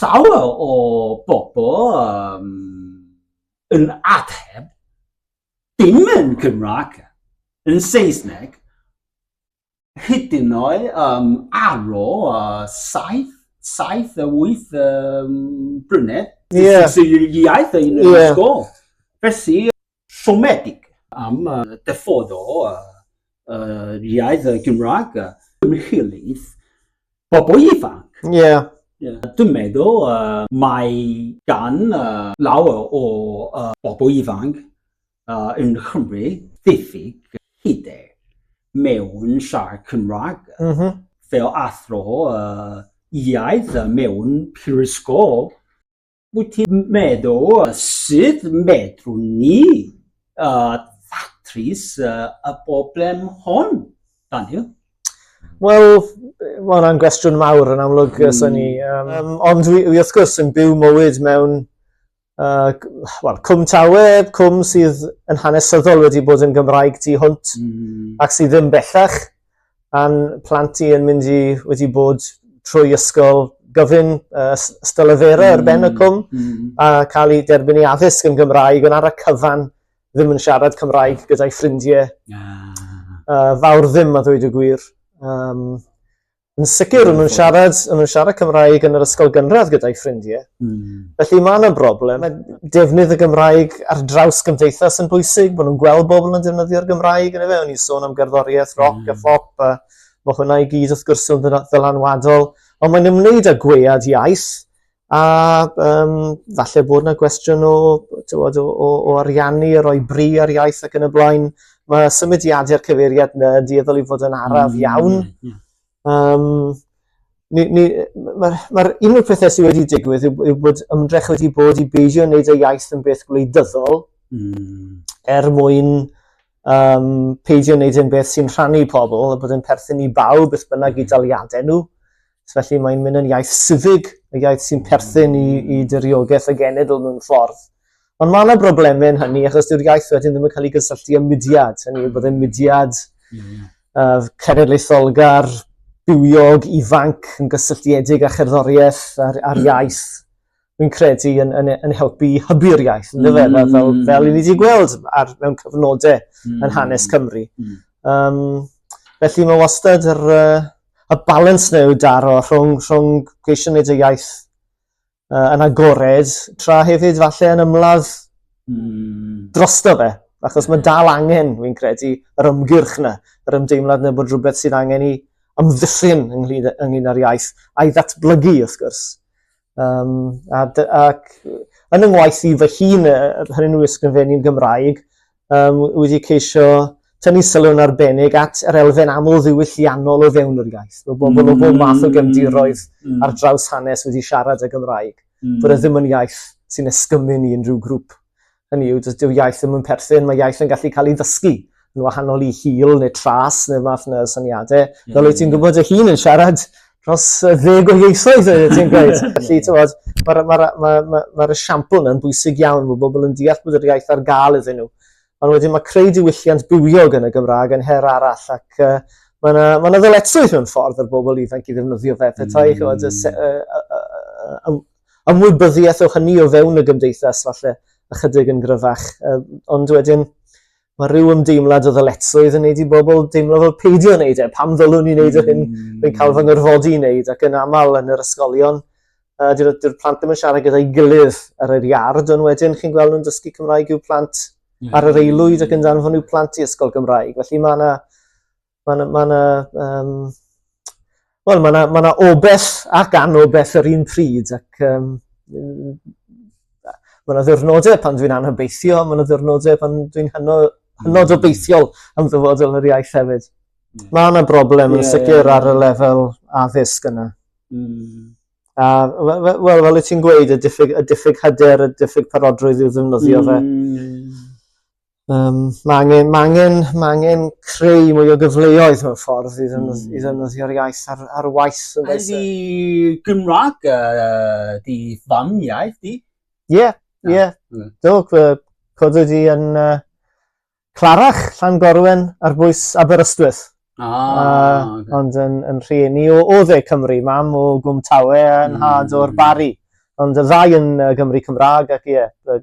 llawer o bobl um, yn ateb dim yn Cymraeg, yn Saesneg, hyd yn oed um, aro uh, saith, saith a wyth um, brynedd yeah. iaith yn yeah. ysgol. Felly, siomedig am dyfod o yr iaith Gymraeg ymhlyg bobl ifanc. Ie. Dwi'n meddwl mae gan lawer o bobl ifanc yn Nghymru ddiffyg hyder mewn siarad Cymraeg fel athro iaith mewn prifysgol. Wyt ti'n meddwl sut medrwn ni uh, ddatrys uh, y broblem hon, Daniel? Wel, mae hwnna'n gwestiwn mawr yn amlwg, mm. sy'n ni. Um, um, ond wi, wi wrth gwrs yn byw mywyd mewn uh, well, cwm tawe, cwm sydd yn hanesyddol wedi bod yn Gymraeg tu hwnt mm. ac sydd ddim bellach. Pan plant i yn mynd i wedi bod trwy ysgol gyfun uh, ystylefera mm. ar ben y cwm mm. a cael ei derbyn i addysg yn Gymraeg, ond ar y cyfan ddim yn siarad Cymraeg gyda'i ffrindiau. Ah. Uh, fawr ddim a ddweud y gwir. Um, yn sicr, yn nhw'n siarad, yn nhw'n siarad Cymraeg yn yr ysgol gynradd gyda'i ffrindiau. Mm. Felly mae yna broblem. Mae defnydd y Gymraeg ar draws gymdeithas yn bwysig, bod nhw'n gweld bobl yn defnyddio'r Gymraeg yn efe. O'n i'n sôn am gerddoriaeth, roc mm. a hmm. phop, a mae hwnna i gyd wrth gwrs yn ddylanwadol. Ond mae'n ymwneud â gwead iaith, a um, falle bod yna gwestiwn o, tywod, o, o, o ariannu, a roi bri ar iaith ac yn y blaen. Mae symudiadau'r cyfeiriad yna yn dieddol i fod yn araf mm. iawn. Mm. Um, ni, ni, mae'r ma un o'r pethau sydd wedi digwydd yw, yw bod ymdrech wedi bod i beidio wneud y iaith yn beth gwleidyddol mm. er mwyn um, peidio wneud yn beth sy'n rhannu pobl a bod yn perthyn i bawb beth bynnag i hmm. daliadau nhw. So felly mae'n mynd yn iaith sifig, y iaith sy'n perthyn i, i dyriogaeth y genedl mewn ffordd. Ond mae yna broblemau yn hynny achos dyw'r iaith wedyn ddim yn cael ei gysylltu â mudiad. Hynny yw bod e'n mudiad uh, cenedlaetholgar, bywiog, ifanc, yn gysylltiedig â cherddoriaeth a'r, ar iaith. Fi'n credu yn, yn, yn helpu i hybu'r iaith, yn dyfe? Mm. Fel, fel i ni wedi gweld ar, mewn cyfnodau mm. yn hanes Cymru. Mm. Um, felly mae wastad yr, uh, y balans neu daro rhwng, rhwng geisio wneud y iaith uh, yn agored, tra hefyd falle yn ymladd mm. drosto fe. Achos mae dal angen, fi'n credu, yr ymgyrch yna, yr ymdeimlad yna bod rhywbeth sydd angen i ymddiffyn ynglyn, ynglyn â'r iaith, a'i ddatblygu, wrth gwrs. Um, a, ac yn yng ngwaith i fy hun, hynny nhw ysgrifennu'n Gymraeg, um, wedi ceisio tynnu sylw'n arbennig at yr elfen amlddiwylliannol o fewn yr iaith. Mae bobl mm. o bob math o mm. gefndiroedd mm. ar draws hanes wedi siarad y Gymraeg, mm. bod e ddim yn iaith sy'n esgymun i unrhyw grŵp. Hynny yw, does dyw iaith ddim yn perthyn, mae iaith yn gallu cael ei ddysgu yn wahanol i hil neu tras neu fath yna syniadau. Mm. Fel wyt ti'n gwybod y hun yn siarad dros ddeg o ieithoedd oeddet ti'n gweud. Felly, ti'n bod, mae'r ma, ma, ma, ma, ma esiampl yna'n bwysig iawn bod bobl yn deall bod yr iaith ar gael iddyn nhw. Ond wedyn mae creu diwylliant bywiog yn y Gymraeg yn her arall ac uh, mae yna ma ddyletswydd mewn ffordd ar bobl ifanc i ddefnyddio fe. Petai mm. chod, y, ymwybyddiaeth o hynny o fewn y gymdeithas falle ychydig yn gryfach. Uh, ond wedyn, mae rhyw ymdeimlad o ddyletswydd yn neud i bobl deimlo fel peidio yn neud e. Pam ddylwn ni neud yr hyn rwy'n cael fy ngyrfodi i neud ac yn aml yn yr ysgolion uh, dyw'r, dyw'r plant ddim yn siarad gyda'i gilydd ar yr iard ond wedyn chi'n gweld nhw'n dysgu Cymraeg i'w plant ar yr aelwyd ac yn danfon i'w plant i ysgol Gymraeg. Felly mae yna Mae yna, mae yna, um, wel, mae yna, mae yna obell ac anobell yr un pryd ac um, Mae yna ddwrnodau pan dwi'n anhybeithio, mae yna ddwrnodau pan dwi'n hynod, hynod hmm. obeithiol am ddyfodol yr iaith hefyd. Mm. Mae yna broblem yn yeah, sicr yeah, ar y lefel addysg yna. Mm. A, wel, fel y ti'n gweud, y diffyg, y diffyg hyder, y diffyg parodrwydd i'w ddefnyddio mm. fe. Hmm. Um, mae angen, ma angen, ma angen creu mwy o gyfleoedd mewn ffordd i ddefnydd, mm. ddefnyddio'r iaith ar, ar waith. A di Gymraeg, uh, di fam iaith di? Ie, yeah, ie. Yeah. Mm. Do, codo di yn uh, Clarach, Llan Gorwen, ar bwys Aberystwyth. Ah, uh, okay. Ond yn, yn rhieni o, o dde Cymru, mam o Gwm Tawe yn mm. had o'r Bari. Ond y ddau yn uh, Gymru Cymraeg ac ie, yeah,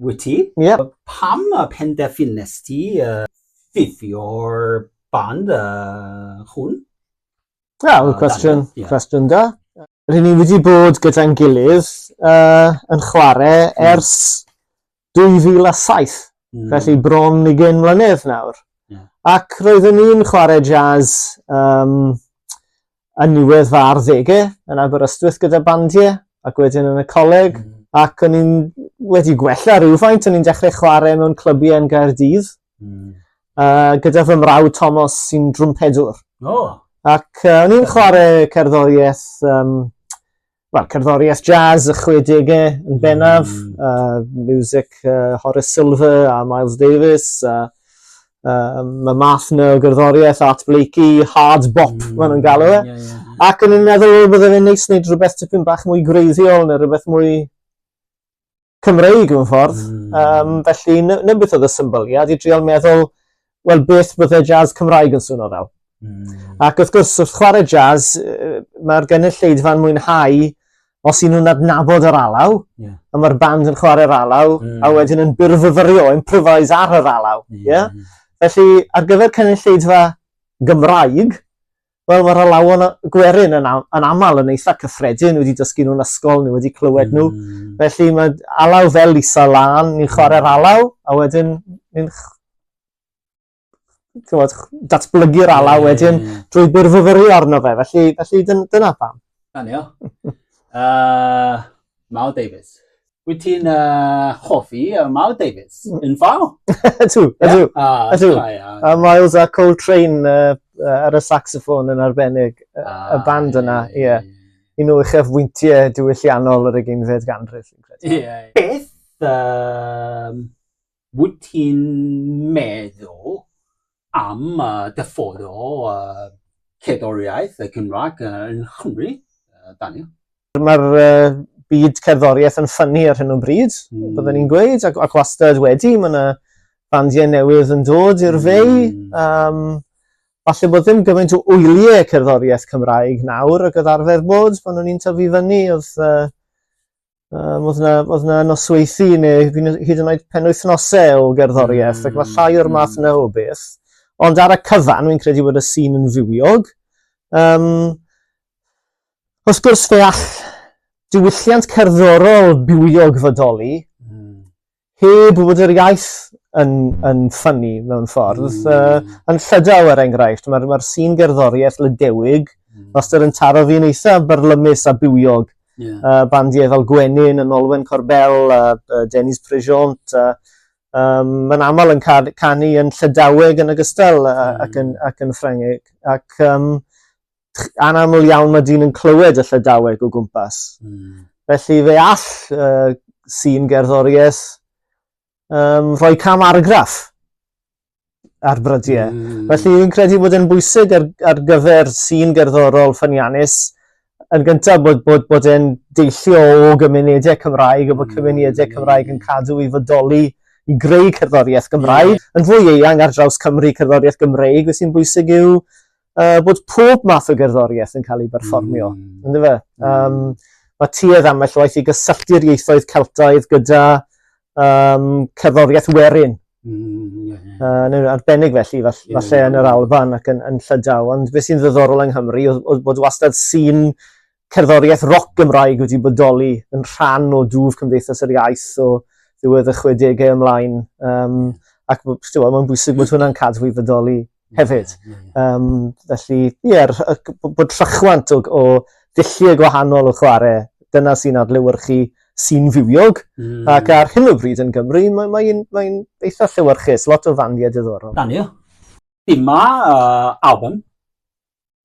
wyt ti. Yep. Pam y penderfynes ti uh, ffifio'r band uh, hwn? Wel, yeah, uh, cwestiwn, yeah. cwestiwn da. Rydyn ni wedi bod gyda'n gilydd uh, yn chwarae mm. ers 2007, mm. felly bron i gen mlynedd nawr. Yeah. Ac roeddwn ni'n chwarae jazz um, yn niwedd fy arddege yn Aberystwyth gyda bandiau ac wedyn yn y coleg mm. ac o'n i'n wedi gwella rhywfaint, o'n i'n dechrau chwarae mewn clybiau yn Gaerdydd mm. uh, gyda fy mrawd Thomas sy'n drwmpedwr. Oh. Ac uh, o'n i'n chwarae cerddoriaeth um, wel, cerddoriaeth jazz y 60au yn mm. bennaf, mm. uh, music uh, Horace Silver a Miles Davis, a uh, mae math na o gerddoriaeth Art Blakey, hard bop, mm. maen nhw'n galw e. Yeah, yeah. Ac yn un meddwl, bydde fe'n neis wneud rhywbeth tipyn bach mwy greiddiol neu rhywbeth mwy Cymreig mewn ffordd. Mm. Um, felly, na beth oedd y symboliad i driol meddwl, wel, beth bydde jazz Cymraeg yn swnio fel. Mm. Ac wrth gwrs, wrth chwarae jazz, mae'r gynulleidfa'n mwynhau os y'n nhw'n adnabod yr alaw, yeah. a mae'r band yn chwarae'r alaw, mm. a wedyn yn byrfyfyrio, improvise ar yr alaw. Yeah. Yeah? Felly, ar gyfer cynulleidfa Gymraeg, Wel mae'r alawon gwerin yn, yn aml yn eitha cyffredin, wedi dysgu nhw'n ysgol, nhw wedi clywed nhw. Mm. Felly mae alaw fel Lisa Lan, ni'n chwarae'r mm. alaw, a wedyn ni'n datblygu'r alaw wedyn mm. drwy byrfyfyru arno fe. Felly, felly dyn, dyna pam. Anio. uh, Mal Davies. Wyt ti'n uh, hoffi uh, Mal Davis mm. yn ffal? Ydw, ydw, ydw. A Miles a Coltrane uh, uh, ar y saxoffon yn arbennig ah, y band yna, ie. Yeah. Yeah. Un o uchaf wyntiau diwylliannol yr egeinfed ganrif. Ie. Yeah. Beth um, Wyt ti'n meddwl am dy ffordd o cerddoriaeth y Gymraeg yn Nghymru, Daniel? Mae'r byd cerddoriaeth yn ffynnu ar hyn o bryd, mm. byddwn ni'n gweud, ac, ac wastad wedi, mae yna bandiau newydd yn dod i'r fei. Mm. Um, falle bod ddim gymaint o wyliau cerddoriaeth Cymraeg nawr ac oedd arfer bod pan o'n i'n tyfu fyny, oedd uh, Um, oedd yna, oedd yna nosweithi neu hyd yn oed penwythnosau o gerddoriaeth, mm. ac mae hmm, llai o'r math hmm. yna o beth. Ond ar y cyfan, wy'n credu bod y sîn yn fywiog. Um, wrth gwrs, fe all diwylliant cerddorol bywiog fodoli, mm. Heb bod yr iaith yn, yn ffynnu mewn ffordd. Mm. Uh, yn llydaw, er enghraifft, mae'r mae sîn gerddoriaeth lydewig, mm. Master yn taro fi'n eitha byrlymus a bywiog. Yeah. Uh, bandiau fel Gwenyn, yn Olwen Corbel, a uh, Dennis Prejont, a um, mae'n aml yn canu yn Llydaweg yn ogystal mm. ac, yn, ac yn Ffrangeg. Ac um, anaml iawn mae dyn yn clywed y llydaweg o gwmpas. Mm. Felly fe all uh, sy'n gerddoriaeth um, rhoi cam argraff ar brydiau. Mm. Felly fi'n credu bod e'n bwysig ar, ar gyfer sy'n gerddorol ffyniannus yn gyntaf bod, bod, bod e'n deillio o gymunedau Cymraeg a bod mm. cymunedau Cymraeg yn cadw i fodoli i greu cerddoriaeth Gymraeg. Yeah. Yn fwy eang ar draws Cymru cerddoriaeth Gymraeg, beth sy'n bwysig yw uh, bod pob math o gerddoriaeth yn cael ei berfformio, mm. ynddo fe? Um, mae tuedd am eich waith i gysylltu'r ieithoedd Celtaidd gyda um, cerddoriaeth werin. Mm, yeah, yeah. Uh, yn arbennig felly, falle, yeah, falle yn yr Alban ac yn, yn Llydaw. Ond beth sy'n ddiddorol yng Nghymru oedd, oedd bod wastad sy'n cerddoriaeth roc Gymraeg wedi bodoli yn rhan o dwf Cymdeithas yr Iaith o ddiwedd y 60au ymlaen. Um, ac mae'n bwysig bod hwnna'n cadw i fydoli hefyd. Um, felly, ie, yeah, bod rhychwant o, o ddulliau gwahanol o chwarae, dyna sy'n adlewyrchu sy'n fywiog, mm. ac ar hyn o bryd yn Gymru, mae'n mae mae eitha llewyrchus, lot o fandiau diddorol. Dan ni, Dyma uh, album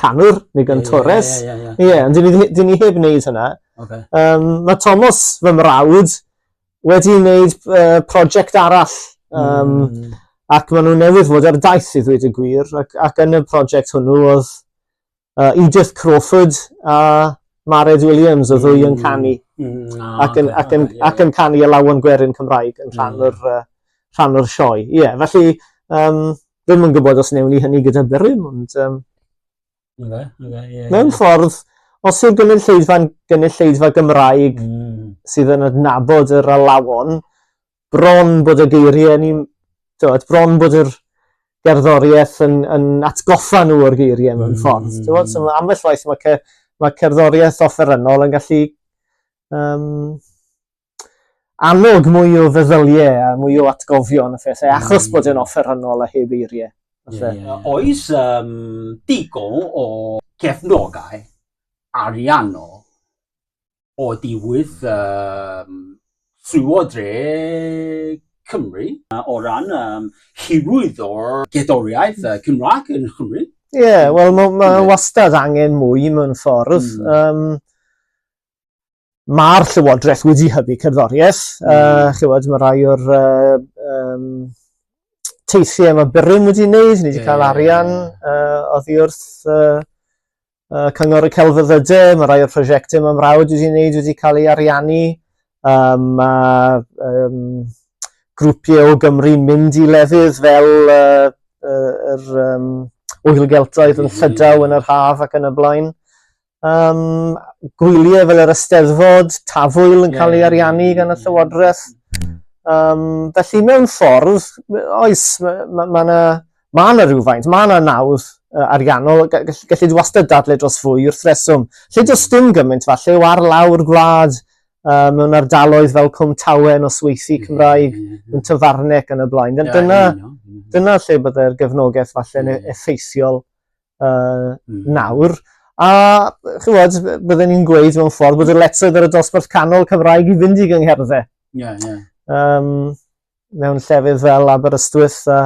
canwr, neu gantores. Ie, ie, ie. Ie, ond dyn ni heb wneud hynna. Okay. Um, mae Thomas, fy mrawd, wedi wneud uh, prosiect arall. Um, mm. Ac maen nhw newydd fod ar daith i ddweud y gwir. Ac, ac yn y prosiect hwnnw oedd uh, Edith Crawford a Mared Williams o ddwy yn mm. canu. Mm. Oh, ac, yn, ac, yn, ac yn canu y lawn gwerin Cymraeg yn rhan mm. o'r, uh, rhan o'r sioe. Ie, yeah, felly um, ddim yn gwybod os newn ni hynny gyda Berwyn, ond... Um, okay, okay, yeah, mewn yeah. ffordd, os yw'r gynulleidfa'n gynulleidfa Gymraeg mm. sydd yn adnabod yr alawon, bron bod y geiriau ni, tywed, bron bod yr gerddoriaeth yn, yn atgoffa nhw o'r geiriau mewn mm. ffordd. Mm. Tywed, so ambell waith mae, ce, mae cerddoriaeth offerynnol yn gallu um, annog mwy o feddylie a mwy o atgofion a phethau achos mm. bod e'n offerynnol a heb eiriau. Yeah, yeah, yeah. Oes um, digon o cefnogau ariannol o diwydd um, Sŵo Dre Cymru o ran um, hiwyd o'r gedoriaeth uh, Cymraeg yn Cymru. Ie, yeah, wel mae ma wastad angen mwy mewn ffordd. Mm. Um, Mae'r Llywodraeth wedi hybu cerddoriaeth. Mm. Uh, chywed, mae rai o'r uh, um, teithiau mae Byrym wedi wneud, ni wedi yeah. cael arian uh, oddi wrth uh, uh, Cyngor y Celfyddydau, mae rai o'r prosiectau mae mrawd wedi wneud wedi cael ei ariannu. Um, mae um, grwpiau o Gymru mynd i lefydd fel uh, uh, yr um, oelgeltoedd yn llydaw yn yr haf ac yn y blaen. um, gwyliau fel yr ysteddfod, tafwyl yn cael ei ariannu gan y llywodraeth. Um, felly mewn ffordd, oes, mae yna ma, ma, ma, ma rhywfaint, mae yna nawdd uh, ariannol, gallu di wastad dadle dros fwy wrth reswm. Lle does dim gymaint falle o ar lawr gwlad uh, mewn ardaloedd fel Cwm Tawe yn osweithi Cymraeg, yn Tyfarnec yn y blaen. Dyna, dyna lle byddai'r gefnogaeth falle yn e-, effeithiol uh, mm. nawr. A chywod, byddwn ni'n gweud mewn ffordd bod y letryd ar y dosbarth canol Cymraeg i fynd i gyngherddau. Yeah, yeah. Um, mewn llefydd fel Aberystwyth a,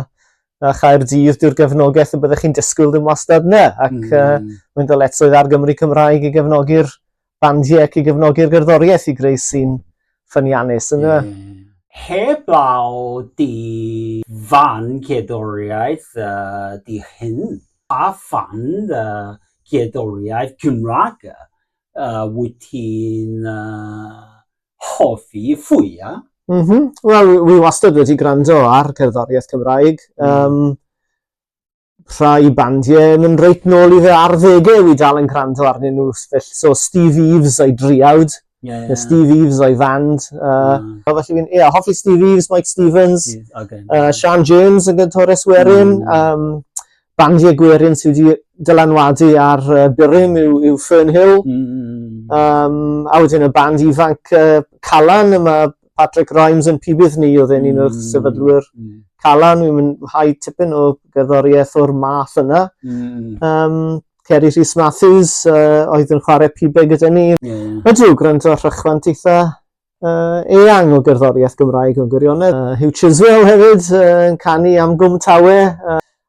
a Chaerdydd, dyw'r gefnogaeth y byddwch chi'n disgwyl ddim wastad na. Ac mm. uh, mae'n dyletswydd ar Gymru Cymraeg i gefnogi'r bandiau ac i gefnogi'r gerddoriaeth i greu sîn ffyniannus ynddo fe. Mm. Heblaw dy fan cerddoriaeth dy hun, pa fan cerddoriaeth Cymraeg wyt ti'n hoffi fwya? M-hm, wel wi wastad wedi gwrando ar gerddoriaeth Cymraeg. Mm. Yym. rhai bandiau yn mynd reit nôl i fy arddegau i dal yn gwrando arnyn nhw. Felly, so Steve Eves o'i driawd, yeah, yeah. Steve Eves o'i fand. Uh, mm. Felly fi'n, ie, yeah, hoffi Steve Eves, Mike Stevens, okay. uh, Sean Jones yn gyntores werin. Mm. Um, bandiau gwerin sydd wedi dylanwadu ar uh, Byrym yw, yw Fernhill. Mm. Um, a wedyn y band ifanc uh, Calan, yma Patrick Rhymes yn pibydd ni, oedd e'n un o'r mm. sefydlwyr mm. Calan, fi'n mynd hau tipyn o gerddoriaeth o'r math yna. Mm. Um, Ceri Rhys Matthews uh, oedd yn chwarae pibau gyda ni. Yeah. Ydw, gwrando ar rhychwant eitha uh, eang o gerddoriaeth Gymraeg yn gwirionedd. Uh, Hugh Chiswell hefyd uh, yn canu am Gwm Tawe. Uh,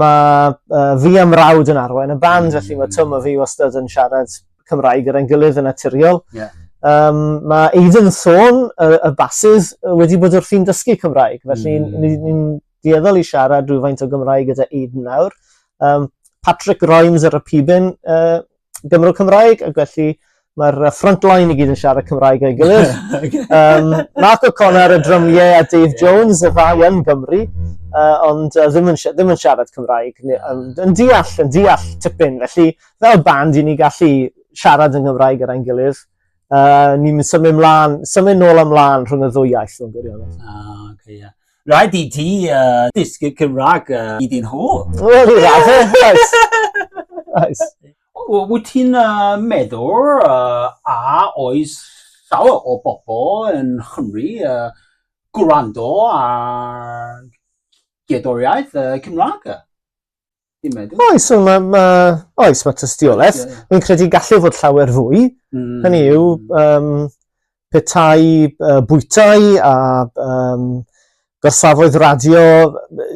Mae uh, fi a mrawd yn arwain y band, mm. felly mae Twm a fi wastad yn siarad Cymraeg gyda'n gilydd yn naturiol. Yeah. Um, mae Aidan Thorn, y, y basydd, wedi bod wrthi'n dysgu Cymraeg, felly mm. ni'n ni, ni dieddol i siarad rhywfaint o Gymraeg gyda Aidan nawr. Um, Patrick Grimes ar y pibyn, uh, Gymro Cymraeg, ac felly mae'r uh, frontline i gyd yn siarad Cymraeg o'i gilydd. um, Mark O'Connor y drymiau a Dave Jones y ddau yn Gymru, uh, ond uh, ddim, yn, ddim yn siarad Cymraeg, yn, yn deall, yn deall tipyn. Felly, fel band, i ni gallu siarad yn Gymraeg ar ein gilydd. Uh, ni'n symud mlaen, symud nôl ymlaen rhwng y ddwy iaith o'n gwirionedd. Ah, okay, yeah. Rhaid i ti uh, dysgu Cymraeg uh, i dyn nhw. Wel, i radde, oes. Oes. Wyt ti'n uh, meddwl uh, a oes llawer o bobl yn Chymru uh, gwrando ar gedoriaeth uh, Cymraeg? Fi'n meddwl. Oes so ma' ma' oes ma' tystioleth. Ie, ie. Fi'n credu gallu fod llawer fwy. Mm. Hynny yw yym petai uh, bwytai a um, gorsafoedd radio,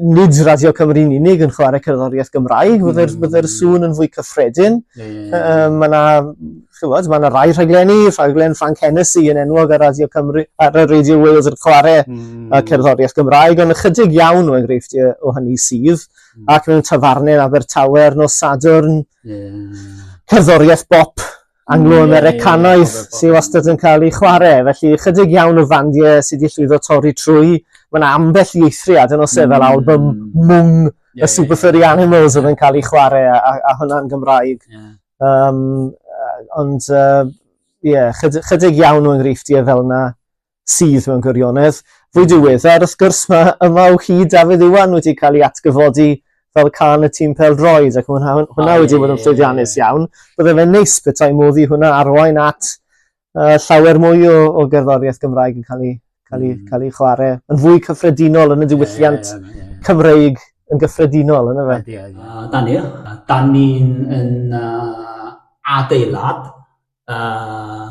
nid Radio Cymru'n unig yn chwarae cerddoriaeth Gymraeg, mm. byddai'r bydde sŵn yn fwy cyffredin. Yeah, yeah, yeah. Um, mae yna chywod, mae yna rai rhaglenni, rhaglen Frank Hennessy yn enwog ar Radio Cymru, ar y Radio Wales yn chwarae mm. cerddoriaeth Gymraeg, ond ychydig iawn o enghreifftiau o hynny sydd. ac mewn tafarnau yn Abertawe ar nos Sadwrn. Yeah. Cerddoriaeth bop Anglo-Americanaidd yeah, yeah, sydd wastad yn cael ei chwarae. Felly, chydig iawn o fandiau sydd wedi llwyddo torri trwy. Mae'n ambell i eithriad yn osef fel mm. album mwng yeah, y Super Furry yeah, Animals yeah. oedd yn cael ei chwarae a, a, a hwnna'n Gymraeg. Yeah. Um, ond, ie, uh, yeah, chydig, chydig iawn o enghreifftiau fel yna. sydd mewn gwirionedd fwy diweddar wrth gwrs mae yma o hyd Dafydd Iwan wedi cael ei atgyfodi fel can y tîm pel-droed ac hwnna, hwnna wedi bod yn llwyddiannus iawn. Bydde fe'n neis bethau modd i hwnna arwain at uh, llawer mwy o, o gerddoriaeth Gymraeg yn cael ei, cael ei, mm. cael ei chwarae yn fwy cyffredinol yn y diwylliant yeah, yeah, yeah. Cymreig yn gyffredinol yna fe. Yeah, yeah. Uh, da ni, da ni'n yn uh, adeilad uh,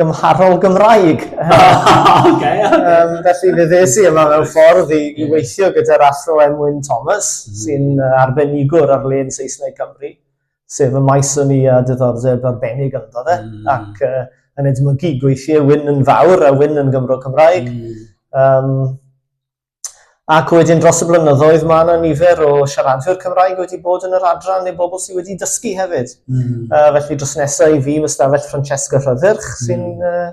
gymharol Gymraeg. Oce. Yym, felly fe ddes i yma mewn ffordd i, i weithio gyda'r Athro Emwyn Thomas, mm. sy'n uh, arbenigwr ar len Saesneg Cymru, sef y maes o'n i a diddordeb arbennig ynddo fe, mm. ac uh, yn edmygu gweithiau wyn yn fawr a wyn yn Gymro Cymraeg. Mm. Um, Ac wedyn dros y blynyddoedd mae yna nifer o siaradwyr Cymraeg wedi bod yn yr adran neu bobl sydd wedi dysgu hefyd. Mm. Uh, felly dros nesau i fi mae stafell Francesca Rhyddyrch mm. sy'n uh,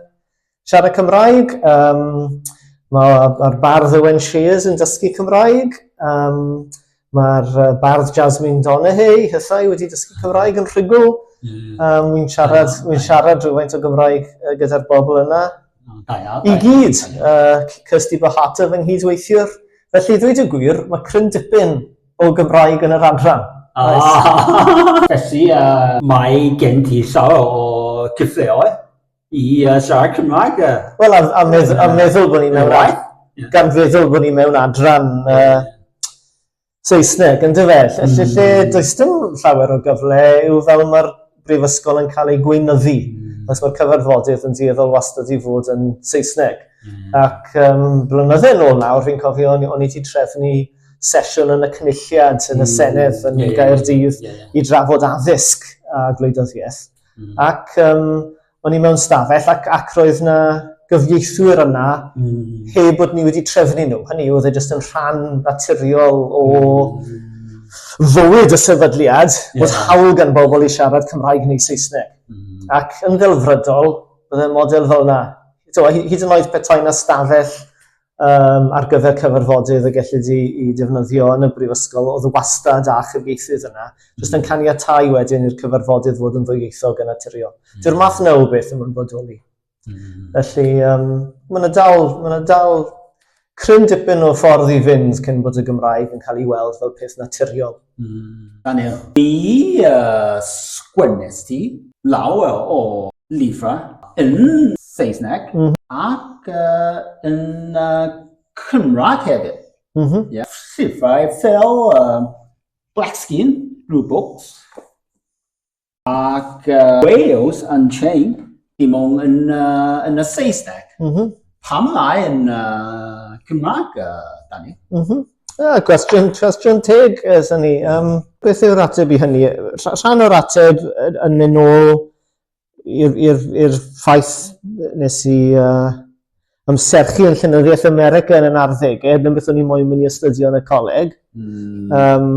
siarad Cymraeg. Um, Mae'r bardd Owen Shears yn dysgu Cymraeg. Um, Mae'r uh, bardd Jasmine Donahue, hysau, wedi dysgu Cymraeg yn rhugl. Mm. Um, Wy'n siarad, mm. wy siarad rhywfaint o Gymraeg uh, gyda'r bobl yna. Mm, da iawn. I gyd, uh, Kirsty Bahata fy nghydweithiwr. Felly, ddweud y gwir, mae cryn dipyn o Gymraeg yn yr adran. Ah, felly, uh, mae gen ti sawl o cyfleoedd i uh, siarad Cymraeg. Uh, Wel, a, a, medd, a meddwl bod ni mewn... Right? Yeah. Gan feddwl bod ni mewn adran uh, Saesneg, yn dyfe? Felly mm. lle does dim llawer o gyfle yw fel mae'r brifysgol yn cael ei gweinyddu. Mm. Os mae'r cyfarfodydd yn dieddol wastad i fod yn Saesneg. Mm. Ac um, blynydde nôl nawr, fi'n cofio, o'n i wedi trefnu sesiwn yn y cynulliad yn y hmm. Senedd yn yeah, Gaerdydd yeah, yeah. i drafod addysg a gwleidyddiaeth. Mm. Ac um, o'n i mewn stafell ac, ac roedd na gyfieithwyr yna mm. heb bod ni wedi trefnu nhw. Hynny oedd e jyst yn rhan naturiol o mm. fywyd y sefydliad yeah. bod hawl gan bobl i siarad Cymraeg neu Saesneg. Mm. Ac yn ddelfrydol, bydd y model fel yna. So, hyd yn oed petai na stafell um, ar gyfer cyfarfodydd y gellid i, i defnyddio yn y brifysgol, oedd wastad â chyfieithydd yna, jyst yn caniatau wedyn i'r cyfarfodydd fod yn ddwyieithog yn naturiol. Mm. Dyw'r math yna o beth yn mynd bodoli. Mm. Felly, um, mae yna dal, ma yna dal cryn dipyn o ffordd i fynd cyn bod y Gymraeg yn cael ei weld fel peth naturiol. Daniel. Be a sgwennest ti? Llawer o lyfrau yn Saesneg ac yn Cymraeg hefyd. Llyfrau fel Black Skin, Blue Books. Ac uh, Wales Unchained, dim ond yn, uh, yn y Saesneg. Mm -hmm. Pam lai yn uh, Cymraeg, uh, Dani? Mm -hmm. Ah, cwestiwn, cwestiwn teg, ys eh, ni. Um, beth yw'r ateb i hynny? Rhan o'r ateb yn mynd nôl i'r ffaith nes i uh, ymserchu yn Llenyddiaeth America yn yn arddegau, dyna beth o'n i moyn mynd i astudio yn y coleg. Mm. Um,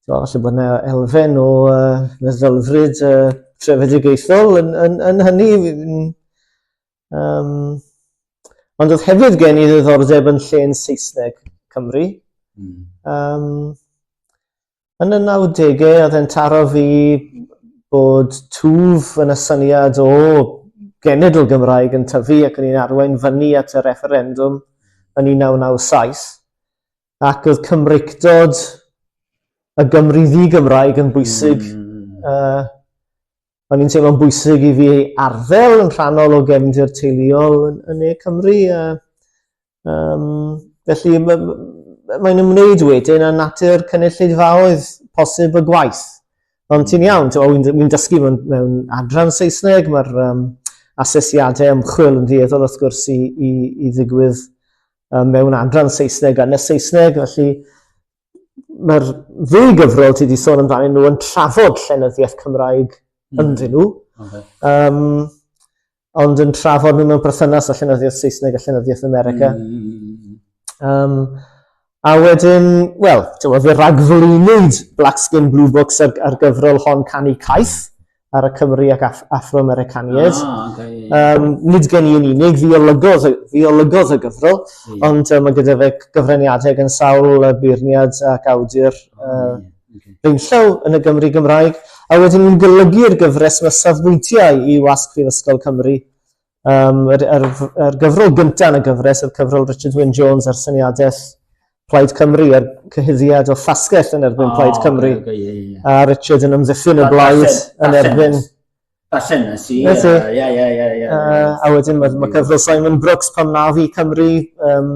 So, felly bod yna elfen o uh, meddylfryd uh, trefedigaethol yn, yn, yn hynny. Um, ond oedd hefyd gen i ddiddordeb yn lle yn Saesneg Cymru. Mm. Um, yn y 90au, oedd e'n taro fi bod twf yn y syniad o genedl Gymraeg yn tyfu ac yn ein arwain fyny at y referendum yn 1997. ac oedd Cymreictod y Gymru ddi-Gymraeg yn bwysig. Mm. Uh, o'n i'n teimlo'n bwysig i fi ei arddel yn rhannol o gefndir teuluol yn, yn ne Cymru. Uh, um, felly mae'n ymwneud wedyn â natur cynulleidfaoedd posib y gwaith. Ond ti'n iawn, wy'n dysgu mewn, mewn adran Saesneg, mae'r um, asesiadau ymchwil yn ddueddol wrth gwrs i, i, i ddigwydd um, mewn adran Saesneg a nes Saesneg, felly mae'r ddwy gyfrol ti wedi sôn amdano nhw yn trafod llenyddiaeth Cymraeg mm. ynddyn nhw, okay. um, ond yn trafod nhw mewn perthynas a llenyddiaeth Saesneg a llenyddiaeth America. Mm. Um, a wedyn, wel, ti'n meddwl, fe ragflwynwyd Black Skin Blue Books ar, ar gyfrol hon Canu Caeth, ar y Cymry ac Af Afro-Americaniaid. Ah, okay, yeah. um, nid gen i yn unig, fi olygodd, fi olygodd y gyfrol, yeah. ond um, mae gyda fe gyfraniadau gan sawl uh, beirniad ac awdur oh, uh, yeah. okay. feinllaw yn y Gymru Gymraeg, a wedyn ni'n golygu'r gyfres mae safbwyntiau i wasg Prifysgol Cymru Um, yr, yr, yr gyfrol gyntaf yn y gyfres oedd cyfrol Richard Wyn Jones ar syniadell Plaid Cymru a'r cyhuddiad o ffasgell yn erbyn oh, Plaid Cymru. Okay, okay, yeah, yeah. A Richard yn ymddiffyn y blaid yn erbyn... Basen nes i. Nes i. Ie, ie, ie. A wedyn mae ma cyfrol Simon Brooks pan na fi Cymru, um,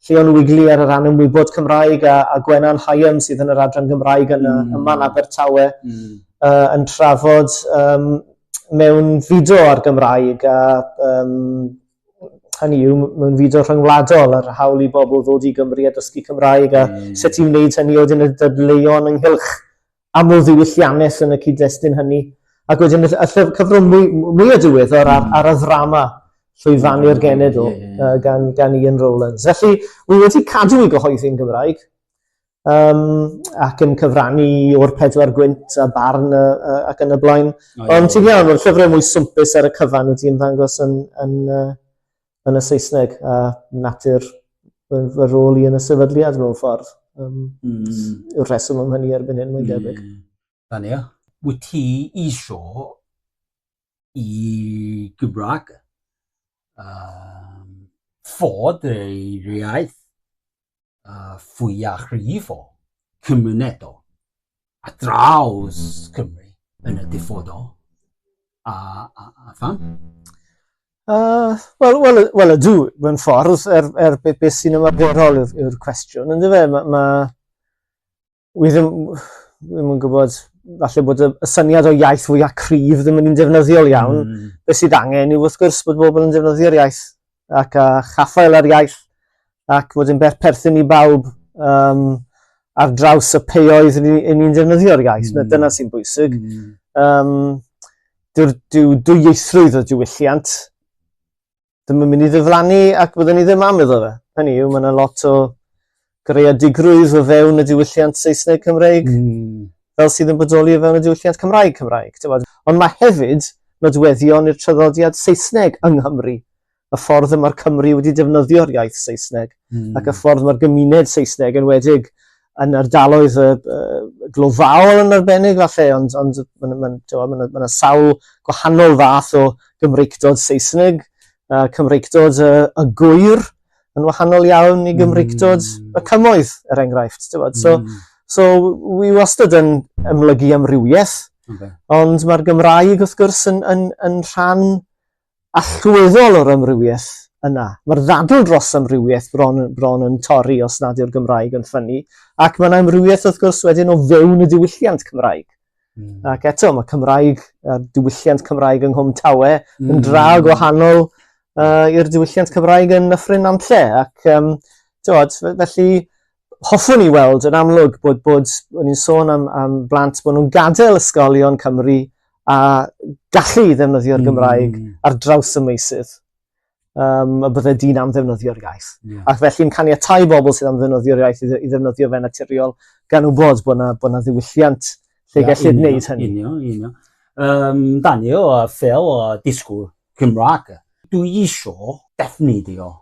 Llion Wigley ar y rhan ymwybod Cymraeg a, a Gwenan Hyam sydd yn yr adran Gymraeg yn mm. y man Abertawe mm. uh, yn trafod um, mewn fideo ar Gymraeg a um, hynny yw mewn fideo rhyngwladol ar hawl i bobl ddod i Gymru a dysgu Cymraeg a mm. sut i wneud hynny oedd yn y dydleion ynghylch amlddiwylliannus yn y cyd-destun hynny. Ac wedyn y llyfr cyfrwng mwy, mwy o diweddar ar, ar y ddrama llwyfannu'r genedl yeah, yeah. Uh, gan, gan Ian Rowlands. Felly, wy wedi cadw i gyhoeddi'n Gymraeg um, ac yn cyfrannu o'r pedwar gwynt a barn a, a, ac yn y blaen. Oh, Ond ti'n iawn, mae'r llyfrau mwy swmpus ar y cyfan wedi ymddangos yn, yn, yn, yn y Saesneg a natur fy, fy rôl i yn y sefydliad mewn ffordd. Um, mm. Yw'r rheswm am hynny erbyn hyn, mae'n debyg. Mm. Fan ia. Wyt ti isio i Gymraeg um, fod ei iaith a fwyaf rhydd o gymunedol a draws Cymru yn y dyfodol? A, a, a pham? Uh, Wel, well, well, ydw, mewn ffordd, er, er beth be sy'n ymarferol yw'r cwestiwn, ynddo fe, mae... Ma, wi ddim, ddim yn gwybod, falle bod y, y syniad o iaith fwy a cryf ddim yn un defnyddiol iawn. Mm. Be sydd angen yw wrth gwrs bod bobl yn defnyddio'r iaith ac a chaffael ar iaith ac bod yn perthyn i bawb um, ar draws y peoedd yn ni'n defnyddio'r iaith. Mm. Dyna sy'n bwysig. Mm. Um, Dyw'r dyw'r dwyieithrwydd o diwylliant ddim yn mynd i ddiflannu ac byddwn ni ddim am iddo fe. Hynny yw, mae yna lot o greadigrwydd o fewn y diwylliant Saesneg Cymreig mm. fel sydd yn bodoli o fewn y diwylliant Cymraeg Cymraeg. Ond mae hefyd nodweddion i'r traddodiad Saesneg yng Nghymru y ffordd y mae'r Cymru wedi defnyddio'r iaith Saesneg mm. ac y ffordd mae'r gymuned Saesneg yn wedig yn ardaloedd uh, uh, glofaol yn arbennig falle, ond, ond mae'n ma, ma, ma, ma sawl gwahanol fath o Gymreictod Saesneg, uh, Cymreictod uh, y gwyr yn wahanol iawn i Gymreictod mm. y cymoedd, er enghraifft. So, mm. so wi wastad yn ymlygu amrywiaeth, okay. ond mae'r Gymraeg wrth gwrs yn, yn, yn rhan allweddol o'r amrywiaeth yna. Mae'r ddadl dros amrywiaeth bron, bron yn torri os nad yw'r Gymraeg yn ffynnu, ac mae'n amrywiaeth wrth gwrs wedyn o fewn y diwylliant Cymraeg. Mm. Ac eto, mae Cymraeg, uh, diwylliant Cymraeg yng Nghwm Tawe mm. yn dra hmm. gwahanol uh, i'r diwylliant Cymraeg yn Nyffryn Nantlle. Ac, um, tywod, felly, hoffwn i weld yn amlwg bod, bod o'n i'n sôn am, am blant bod nhw'n gadael ysgolion Cymru a gallu i ddefnyddio'r hmm. Gymraeg mm. ar draws y meisydd um, y bydde dyn am ddefnyddio'r iaith. Yeah. Ac felly'n caniatau bobl sydd am ddefnyddio'r iaith i ddefnyddio fe naturiol gan wybod bod yna, bod yna ddiwylliant lle yeah, gellid wneud hynny. Unio, unio. Um, Daniel, a Phil, a disgwyl Cymraeg, dwi eisiau defnyddio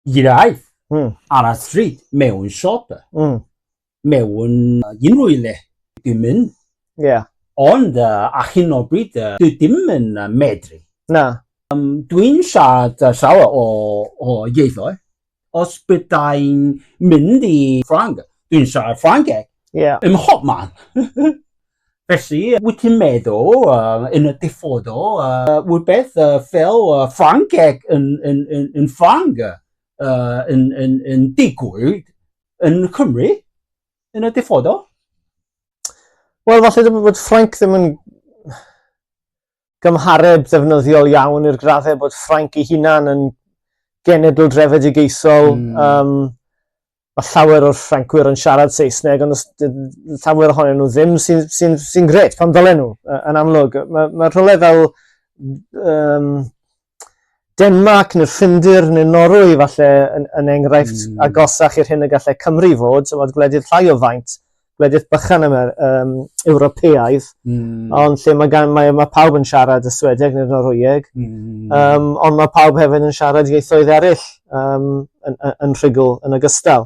iraeth mm. ar y stryd mewn siop, mm. mewn unrhyw i le. Dwi'n mynd. Yeah. Ond uh, a hyn o bryd, uh, dwi ddim yn uh, medru. Na. Um, dwi'n siarad uh, llawer o, o ieithoedd. Os byddai'n mynd i Ffrang, dwi'n siarad Ffrangeg. Yeah. Ym mhob man. Felly, wyt ti'n meddwl, uh, yn y diffodol, uh, rhywbeth uh, fel uh, Ffrangeg yn, yn, yn, yn Ffrang uh, yn, yn, yn digwydd yn Cymru yn y diffodol? Wel, falle ddim bod Ffranc ddim yn... gymhareb ddefnyddiol iawn i'r graddau bod Ffrainc ei hunan yn genedl drefedigaethol. Mm. Um, mae llawer o'r Ffrancwyr yn siarad Saesneg, ond llawer ohonyn nhw ddim sy'n sy sy, sy gret pan ddylen nhw, yn amlwg. Mae ma rhywle fel um, Denmarc neu'r Ffindir neu'r Norwy falle yn, yn enghraifft mm. agosach i'r hyn y gallai Cymru fod, so fod gwledydd llai o faint, gwledydd bychan yma, um, Ewropeaidd, mm. ond lle mae, gan, mae, mae pawb yn siarad y Swedeg neu'r Norwyeg, mm. um, ond mae pawb hefyd yn siarad ieithoedd eraill um, yn, yn, yn rhugl yn ogystal.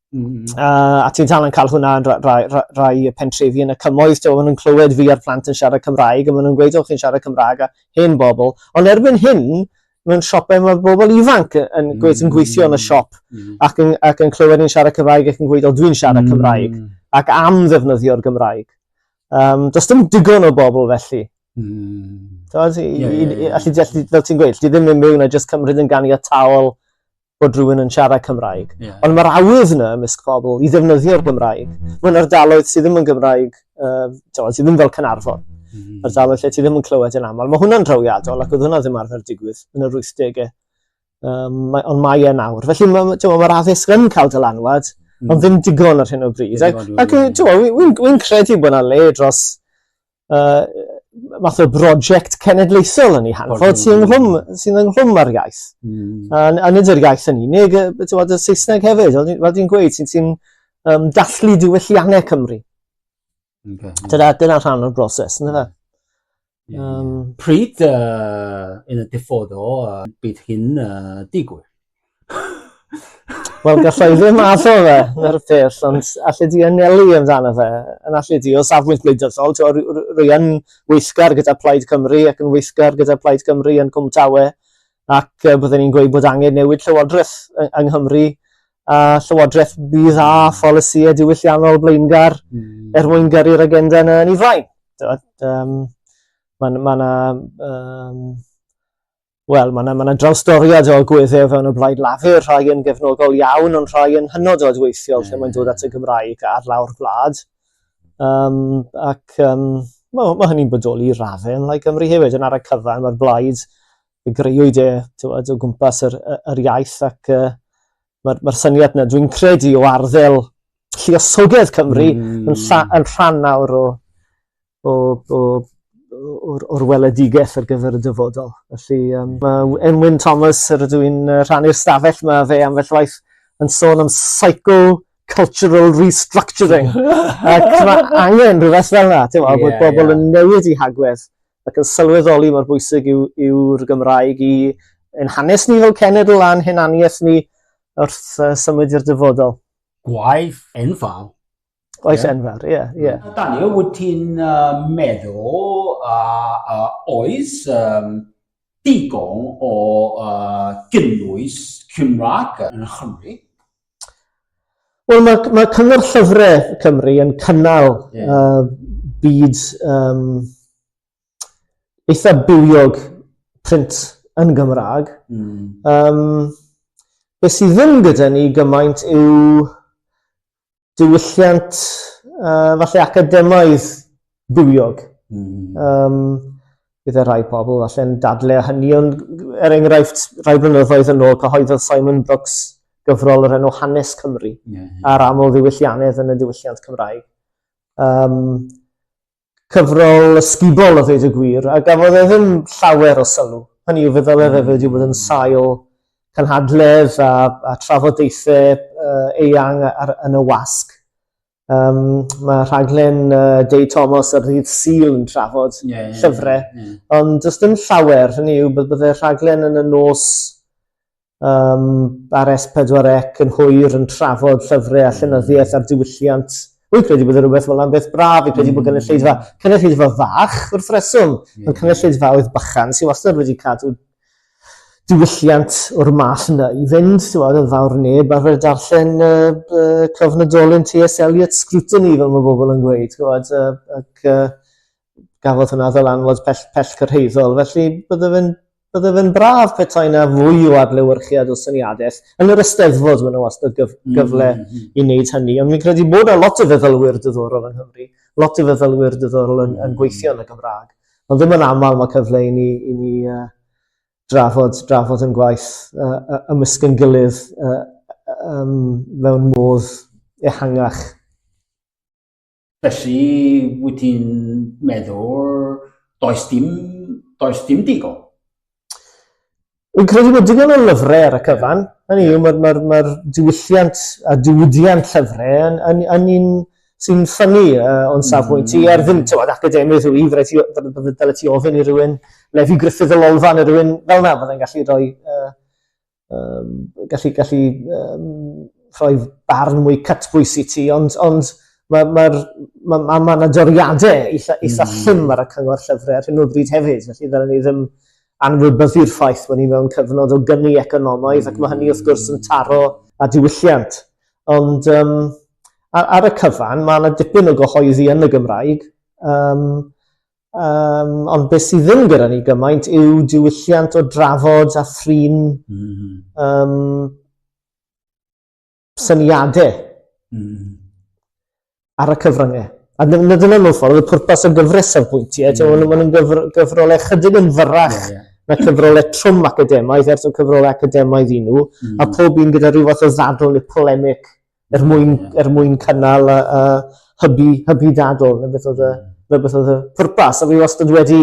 Mm. Uh, a ti'n tal yn cael hwnna yn rai, rai, rai pentrefi yn y cymoedd, ti'n maen nhw'n clywed fi a'r plant yn siarad Cymraeg, a maen nhw'n gweud, o'ch chi'n siarad Cymraeg, a hen bobl. Ond erbyn hyn, mewn siopau mae bobl ifanc yn, mm. yn gweithio yn y siop mm. ac, yn, ac yn clywed yn siarad Cymraeg ac yn gweud, o dwi'n siarad mm. Cymraeg, ac am ddefnyddio'r Gymraeg. Um, does dim digon o bobl felly. Mm. Does, yeah, yeah, yeah. Allu, allu, fel ti'n gweud, ti ddim yn mewn a jyst cymryd yn ganiataol bod rhywun yn siarad Cymraeg. Yeah. Ond mae'r awydd yna ymysg pobl i ddefnyddio'r Gymraeg. Mae'n ardaloedd sydd ddim yn Gymraeg, uh, sydd ddim fel Cynarfon. Mm. -hmm. Ardaloedd lle ti ddim yn clywed yn aml. Mae hwnna'n drawiadol ac oedd hwnna ddim arfer digwydd yn yr 80au. Um, mae, ond mae e nawr. Felly mae'r ma, ma addysg yn cael dylanwad, mm. ond ddim digon ar hyn o bryd. Ac, ac ti'n wi'n wi credu bod yna le dros uh, math o brosiect cenedlaethol yn ei hanfod sy'n ynghlwm, sy ynghlwm â'r iaith. Mm. A, a nid yr iaith yn unig, ti'n bod y Saesneg hefyd, fel dwi'n gweud, sy'n sy um, dathlu diwylliannau Cymru. Okay. Dyna, dyna rhan o'r broses, yna fe. Yeah. Um, Pryd uh, yn y diffodd o uh, bydd hyn uh, digwydd? Wel gallai ddim addo fe na'r peth, ond allu di anelu amdano fe, yn allu di o safbwynt gwleidyddol, rwy yn weithgar gyda Plaid Cymru ac yn weithgar gyda Plaid Cymru yn Cwm Tawe, ac byddwn ni'n gweud bod angen newid llywodraeth yng Nghymru, a llywodraeth bydd a pholisïau diwylliannol blaengar mm. er mwyn gyrru'r agenda yna yn ei flaen. Um, Mae yna um, Wel, mae yna, mae yna drawstoriad o gweddiau fewn y blaid lafur, rhai yn gefnogol iawn, ond rhai yn hynod o adweithiol mm. lle mae'n dod at y Gymraeg ar lawr gwlad. Um, ac um, mae, mae hynny'n bodoli i raddau yn Lai Gymru hefyd, yn ar y cyfan mae'r blaid y greuwyd e tywed, o gwmpas yr, yr iaith ac uh, mae'r mae syniad yna, dwi'n credu, o arddel lliosogedd Cymru mm. yn, lla, yn rhan nawr o, o, o, o'r, or weledigaeth ar gyfer y dyfodol. Felly, um, mae Enwyn Thomas, yr ydw i'n rhannu'r stafell, mae fe am felly waith yn sôn am psycho cultural restructuring. Ac mae angen rhywbeth fel yna, ti'n yeah, bod bobl yeah. yn newid i hagwedd ac yn sylweddoli mor bwysig yw'r yw, yw Gymraeg i yn hanes ni fel cenedl a'n hunaniaeth ni wrth uh, symud i'r dyfodol. Gwaith enfawr Oes yeah. enfawr, ie. Yeah, yeah. Mm. Daniel, wyt ti'n uh, meddwl uh, uh, oes um, digon o uh, gynnwys Cymraeg yn Chymru? Wel, mae, mae Cyngor Llyfrau Cymru yn cynnal yeah. uh, byd um, eitha bywiog print yn Gymraeg. Mm. Um, be sydd ddim gyda ni gymaint yw diwylliant uh, falle academaidd bywiog. Mm. Um, bydd e rhai pobl falle'n dadle a hynny, ond er enghraifft rhai blynyddoedd yn ôl cyhoeddodd Simon Brooks gyfrol yr enw Hanes Cymru yeah, yeah. a'r aml ddiwyllianedd yn y diwylliant Cymraeg. Um, cyfrol ysgubol a ddweud y gwir, a gafodd e ddim llawer o sylw. Hynny yw, fe ddylai fe wedi bod yn sail cynhadledd a, a trafodaethau uh, eang ar, yn y wasg. Um, mae rhaglen uh, Dei Thomas ar ddydd Sil yn trafod yeah, llyfrau, yeah, yeah. ond does dim llawer, hynny yw, byddai rhaglen yn y nos um, ar S4C yn hwyr yn trafod llyfrau a llenyddiaeth a'r diwylliant. Wy'n credu bod rhywbeth fel am beth braf, fi'n credu bod mm. cynulleidfa, cynulleidfa fach wrth reswm, yeah. ond cynulleidfa oedd bychan sy'n wastad wedi cadw diwylliant o'r math yna i fynd, ti'n gwybod, yn fawr neb ar fyrdd darllen uh, uh, cyfnodolyn T.S. Eliot scrutiny, fel mae bobl yn gweud, ti'n gwybod, uh, ac uh, gafodd hwnna fel anfod pell, pell cyrhaeddol. Felly bydde fe'n bydde fe'n braf petai yna fwy o adlewyrchiad o syniadell. Yn yr ysteddfod maen nhw wastad gyf, mm, gyfle mm, mm. i wneud hynny, ond fi'n credu bod yna lot o feddylwyr diddorol yng Nghymru, lot o feddylwyr diddorol yn, yn gweithio yn y Gymraeg. Ond ddim yn aml mae cyfle i ni, i ni uh, drafod, drafod yn gwaith uh, ymysg yn gilydd uh, um, mewn modd ehangach. Felly, wyt ti'n meddwl, does dim, does dim digon? Fi'n credu bod digon o lyfrau ar y cyfan. Hynny yw, mae'r ma ma diwylliant a diwydiant llyfrau yn, yn, yn un sy'n ffynnu uh, o'n safbwynt i, ar ddim, tywed, academydd yw i, fydde dyle ti ofyn i rywun, Lefi Griffith y Lolfa neu rhywun fel na, fydde'n gallu rhoi uh, um, gallu, gallu um, rhoi barn mwy cytbwys i ti, ond, ond mae'r ma, ma, ma, ma, ma doriadau eitha, eitha mm. llym ar y cyngor llyfrau ar hyn o bryd hefyd, felly ddylen ni ddim anwybyddu'r ffaith bod ni mewn cyfnod o gyni economaidd mm. ac mae hynny wrth gwrs yn taro a diwylliant. Ond um, ar, ar y cyfan, mae yna dipyn o gyhoeddi yn y Gymraeg. Um, Um, ond beth sydd ddim gyda ni gymaint yw diwylliant o drafod a thrin mm -hmm. um, syniadau mm -hmm. ar y cyfryngau. A dyna mewn ffordd, y pwrpas o gyfres o'r bwyntiau, mm. -hmm. maen nhw'n gyfr gyfrolau chydig yn fyrrach yeah, yeah. na cyfrolau trwm academaidd, ers o cyfrolau academaidd i nhw, mm. -hmm. a pob un gyda rhyw fath o ddadl neu polemic Er mwyn, er mwyn cynnal y, y hybu, hybu dadl, neu beth oedd y, neu beth oedd y pwrpas. A fi wastad wedi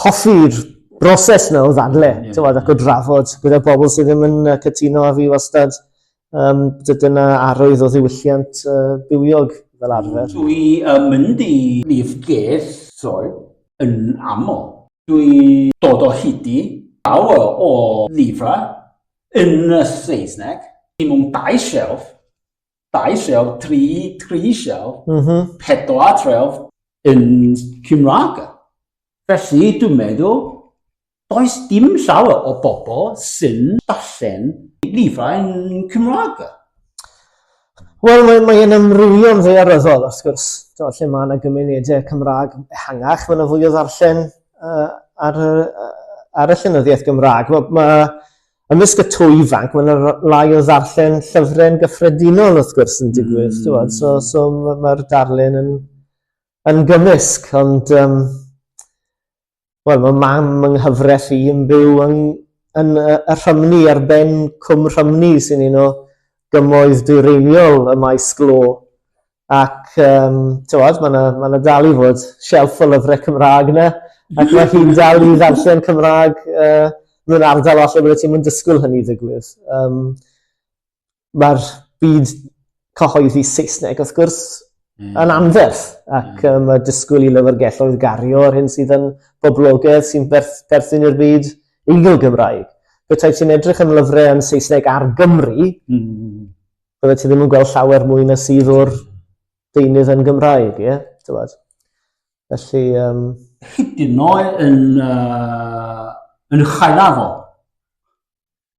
hoffi'r broses na o ddadle, yeah. tywed, ac o drafod gyda bobl sydd ddim yn cytuno a fi wastad um, dyna arwydd o ddiwylliant uh, bywiog fel arfer. Dwi uh, mynd i lif gesol yn aml. Dwi dod o hyd i lawer o lifra Yn y Saesneg, dim ond dau shelf, dau shelf, tri, tri shelf, mm -hmm. pedwar shelf yn Cymraeg. Felly, dwi'n meddwl, does dim llawer o bobl sy'n darllen lifrau yn Cymraeg. Wel, mae, mae yn amrywio'n ddaearyddol, wrth gwrs, do, lle mae yna gymunedau Cymraeg ehangach, mae yna fwy o ddarllen uh, ar, uh, ar y llenyddiaeth Gymraeg. Mae, mae ymysg y twy ifanc, mae yna lai o ddarllen llyfrau'n gyffredinol, wrth gwrs, yn digwydd. Mm. So, so mae'r darllen yn, yn gymysg, ond um, Wel, mae mam yng nghyfres i yn byw yn, yn y Rhymni ar ben Cwm Rhymni sy'n un o gymoedd dwyreiniol y maes glo. Ac, um, tywod, mae yna ma dal i fod shelf o lyfrau Cymraeg yna, ac mae hi'n dal i ddarllen Cymraeg uh, mewn ardal allan bydde ti'n mynd dysgwyl hynny ddigwydd. Um, ma'r byd cyhoeddi Saesneg wrth gwrs mm. yn anferth ac mm. um, mae disgwyl i lyfrgelloedd gario ar hyn sydd yn boblogedd sy'n berth, berthyn i'r byd eiddo Gymraeg. Bethau ti'n edrych yn lyfrau yn Saesneg ar Gymru, mm. bydde ti ddim yn gweld llawer mwy na sydd o'r deunydd yn Gymraeg, ie? Yeah? Felly... Um... Hyd yn oed yn, uh, yn chael afol,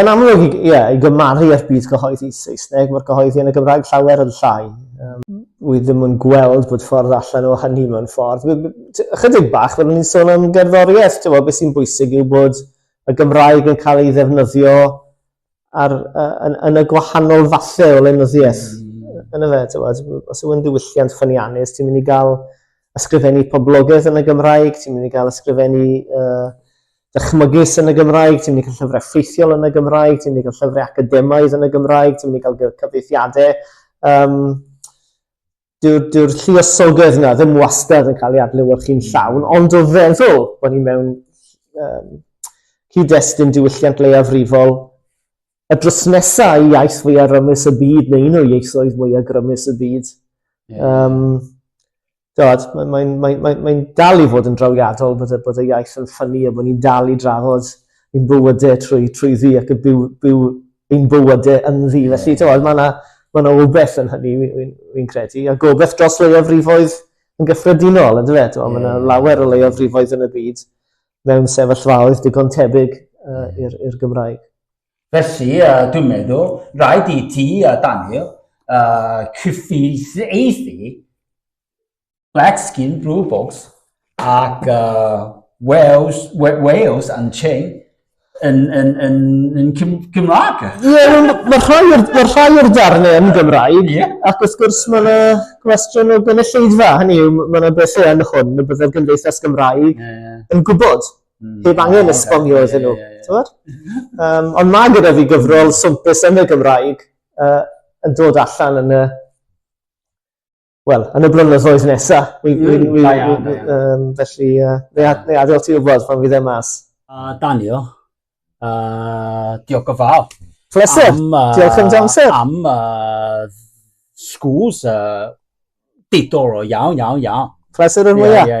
Yn amlwg, ie, yeah, i gymaru â'r byd cyhoeddi Saesneg, mae'r cyhoeddi yn y Gymraeg llawer yn llai. Um, wy ddim yn gweld bod ffordd allan o hynny mewn ffordd. Ychydig bach, fel ni'n sôn am gerddoriaeth, ti'n beth sy'n bwysig yw bod y Gymraeg yn cael ei ddefnyddio ar, uh, yn, yn y gwahanol fathau o lenyddiaeth. Mm. Yn y fe, ti'n beth, os yw'n diwylliant ffyniannus, ti'n mynd i gael ysgrifennu poblogaeth yn y Gymraeg, ti'n mynd i gael ysgrifennu uh, dychmygus yn y Gymraeg, ti'n mynd i cael llyfrau ffeithiol yn y Gymraeg, ti'n mynd i cael llyfrau academaidd yn y Gymraeg, ti'n mynd i cael cyfeithiadau. Um, Dyw'r dyw lliosogaeth yna ddim wastad yn cael ei adlewyrchu'n llawn, ond o feddwl bod ni mewn um, cyd-destun diwylliant leiafrifol y dros nesaf i iaith fwyaf rymus y byd, neu un o ieithoedd mwyaf grymus y byd. Yeah. Um, Dod, mae'n mae, mae, mae, mae dal i fod yn drawiadol bod y, bod y iaith yn ffynnu a bod ni'n dal i drafod ein bywydau trwy, trwy ddi ac y byw, byw ein bywydau yn ddi. Felly, yeah. dod, mae yna ma na obeith yn hynny, fi'n fi, fi credu, a gobeith dros leiafrifoedd yn gyffredinol, ynddo fe? Yeah. Mae yna lawer o leiafrifoedd yn y byd mewn sefyllfaoedd digon tebyg uh, i'r Gymraeg. Felly, dwi'n meddwl, rhaid i ti a Daniel uh, cyfieithu Black Skin Blue Box ac uh, Wales, Wales and Chain yn, yn, yn, yn Gymraeg. Ie, yeah, mae rhai o'r darnau yn Gymraeg, yeah. ac wrth gwrs mae yna gwestiwn o gynulleidfa, hynny yw, mae yna bethau yn hwn y byddai'r Gymdeithas Gymraeg yeah. yn gwybod. Mm. Heb angen oh, esbonio okay. iddyn nhw. Yeah, yeah, yeah. um, ond mae gyda fi gyfrol swmpus yn y Gymraeg uh, yn dod allan yn y... Wel, yn y blynyddoedd nesa. Mm, da iawn, da iawn. Felly, neu adael ti wybod pan fydd e mas. Uh, Danio, uh, diolch o fawr. Pleser, am, uh, diolch yn damser. Am uh, schools, uh, diddorol iawn, iawn, iawn. Pleser yn mwyaf. Yeah, yeah, yeah.